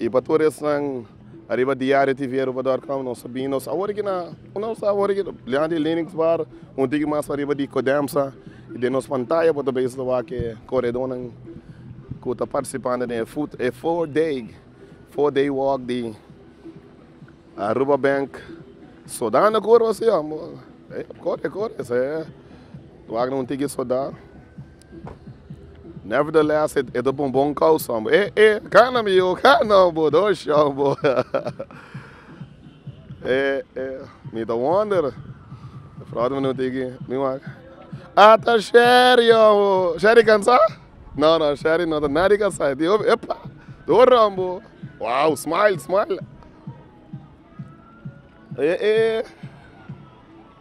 I pa tur esnan ariba diario TV Aruba dot com nos a bin nos a woriga na nos a woriga bliaha di Linux bar un tiki mas ariba di Codemsa i den nos pantaya bo ta bisa ta wak e koredonan ku ta partisipando den e fut e four day four day walk di Aruba Bank sodana kurba si a kore kore esei ta wak na un tiki soda. Nevertheless, e ta bon bon causa, hombre. Eh, eh, gana mi yo, gana, hombre, dos, hombre. eh, eh, mi ta wonder. De fraude minuut aquí, mi wak. Ata Sherry, hombre. Sherry cansa? No, no, Sherry no ta nadie cansa. E dijo, epa, door, hombre. Wow, smile, smile. Eh, eh.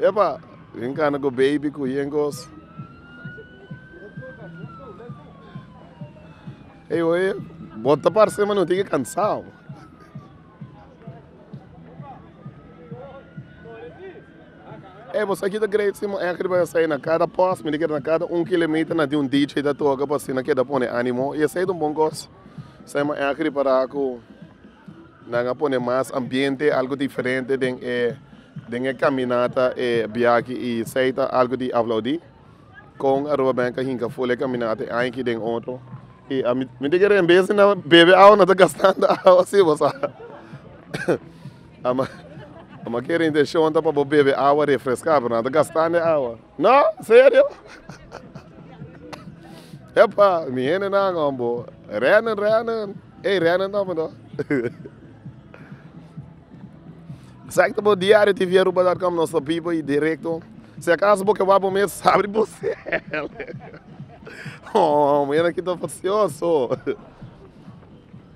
Epa, yen cana cu baby cu yen cos. Ey oye, bo ta parce mano tin ki cansao. Ey bo sa kita great si mo echt riba esey na cada post, mi di keda na cada un kilometer na tin un DJ ta toca pa asina keda pone animo y esey ta un bon cos. Esey mo echt ripara cu. Nan a pone mas ambiente, algo diferente den e den e caminata, e biachi y esey ta algo di aplaudi. Con Aruba Bank a hinca full e caminata e aña aki den otro y a miti que rembe si nan bebe awa nan ta gastando awa si bo sa ama ama que e intencion ta pa bo bebe awa refresca pero nan ta gastando e awa. No, serio? Epa, mi hendenan hombo, rennen, rennen, ey rennen nomber no. Exacto, bo diario TV Aruba.com nos ta vivo y directo. Si acaso bo ke wak bo mes, abri bo cel. Hombo, ena ki ta precioso.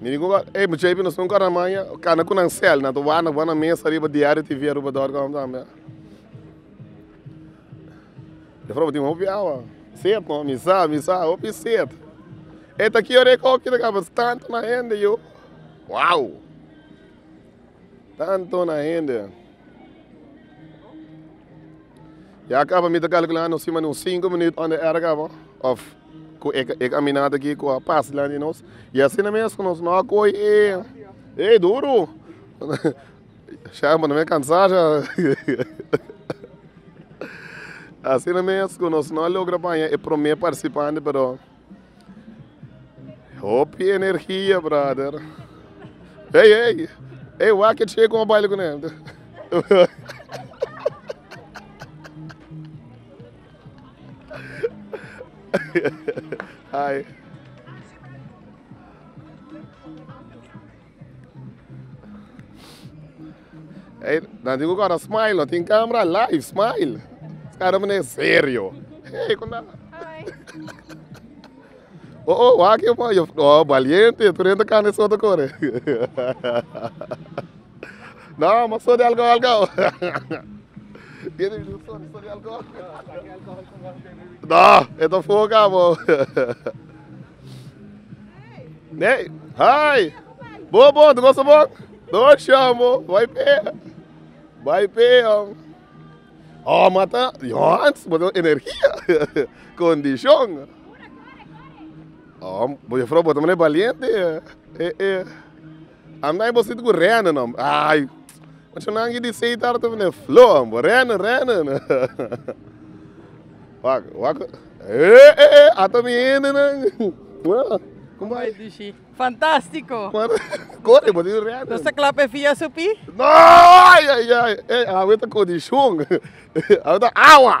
Mi di koba ey mucha hipi nos tin un kara maya kana ku nan sel nan ta wak nan bana mes ariba diario TV Aruba dor kòm ta tambe de forma ku tin hopi awa set nò mi sa mi sa hopi set e ta ki ora e kòkida kaba tantu na hende yo wao. Tanto na hende. Ya kaba mi ta kalkulá nos sima un sinku minuut unda era kaba òf ku e e kaminata aki ku a pas dilanti nos. I asina mes ku nos no a koi e e duru shaya pone mi kansá sha asina mes ku nos no a logra paña e promé parsipante pero. Hopi energia brother. Hey hey. Hey wak e che kon baile con el. Hi. Ey nan tin cu cor a smile no tin camera live smile cara bo ne serio ey con ta oh oh wak yo man yo oh valiente yo tur hende cana eso ta core no mas so de alcohol gauw tiene di so di so di alcohol no e ta foca bo. Hey, hi. Bo, bo, tu gosta bo? No, Sean, bo. Vai pe. Vai pe, jong. Oh, mata. Jons, bo ten energia. Condición. Oh, bo juffrouw, bo ta mane valiente, eh. Eh, eh. Am dai bosito cu rene no ay ocho nan ki di seita aroto fina e flo am bo rene rene no wak wak eh eh eh ato mi hende nan como bay dishi fantastico kore bosito rene no sa clap e fia su pi no ay ay ay awe ta condicion awe ta awa.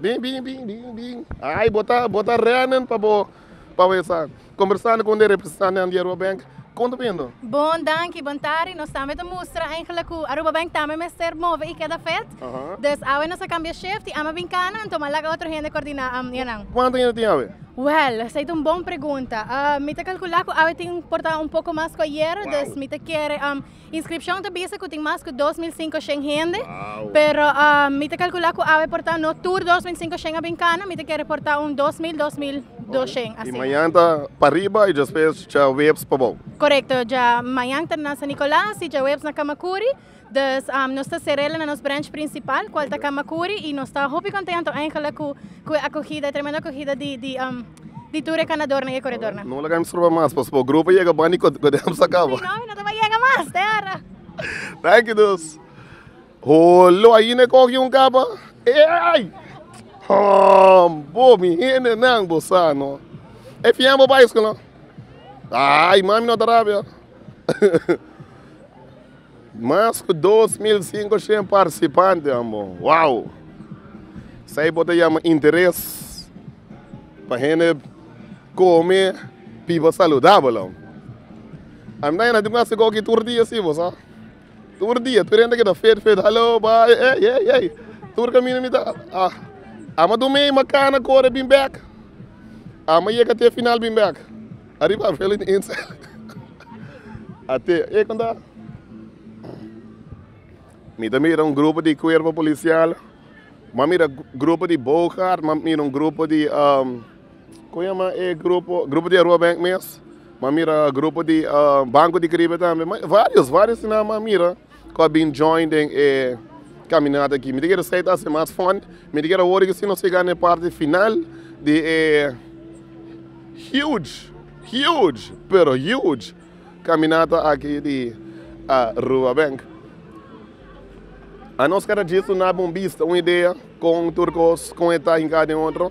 Bin bin bin bin bin ai bo ta bo ta rennen pa bo pa bo esa conversando con de representantenan di Aruba Bank con ta bindo. Bon danki, bon tardi. Nos tambe ta mustra eigenlijk cu Aruba Bank tambe mester move y keda fet. Dus awe nos a cambia shift y ama bin cana anto m'a laga otro hende coordina anja nan. Cuanto hende tin awe? Wel, esey ta un bon pregunta. Mi ta calcula cu awe tin por ta un poco mas cu ayer, dus mi ta kere Inscripcion ta bisa cu tin mas cu dos mil cinco shen hende, pero mi ta calcula cu awe por ta no tur dos mil cinco shen a bin cana, mi ta kere por ta un dos mil, dos mil doshen asina. Y mañan ta pariba y despues djaweps pabou. Corecto, dja mañan ta na San Nicolas y djaweps na Camacuri, dus nos ta cerela na nos branch principal cual ta Camacuri y nos ta hopi conteento eindelijk cu e acogida, e tremendo acogida di. di tur e kanador na e koredor nan. No laga mi stroba mas pasobra bo grupo yega bandi ku ku demos a kaba. Si no mi no ta bai yega mas te ora. Thank you dus. Holo ainda e koki un kaba. Eey! Hom bo mi hende nan bo sa no. E fian bo bai school no. Aai mami no ta rabia. Mas ku dos mil sinku shen partisipante a mo. Wow! Esei bo ta yama interes pa hende kome biba saludabel. Aminta yanda tin ku hasi goki tur dia si bo sa. Tur dia tur hende keda fit fit halo bai ey ey ey ey tur kaminda mi ta a a ma dume a ma kana kore bin bek a ma yega te final bin bek. Ariba Avel in Ins Ate e konta. Mi ta mira un grupo di kuerpo polisial, ma mira grupo di Boogaard, ma mira un grupo di um, kon yama e grupo, grupo di Aruba Bank mes, ma mira grupo di uh, Banco di Caribe tambe, ma varios, varios tinama mira. cu a bin join den e caminata aki. Mi ta kere sai ta haci mas fun. Mi ta kere awor ke si nos yega na e parti final di e huge, huge, pero huge caminata aki di Aruba. Beng, a nos cada djis lo na bon bista, un idea con tur cos, con e ta hinca den otro.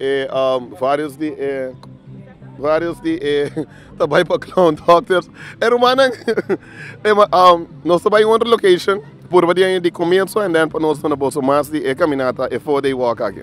E varios di e varios di e ta bai pa clown doctor. E rumannan nos ta bai un otro location purba di aña di comienzo and then pa nos duna boso mas di e caminata e four day walk aki.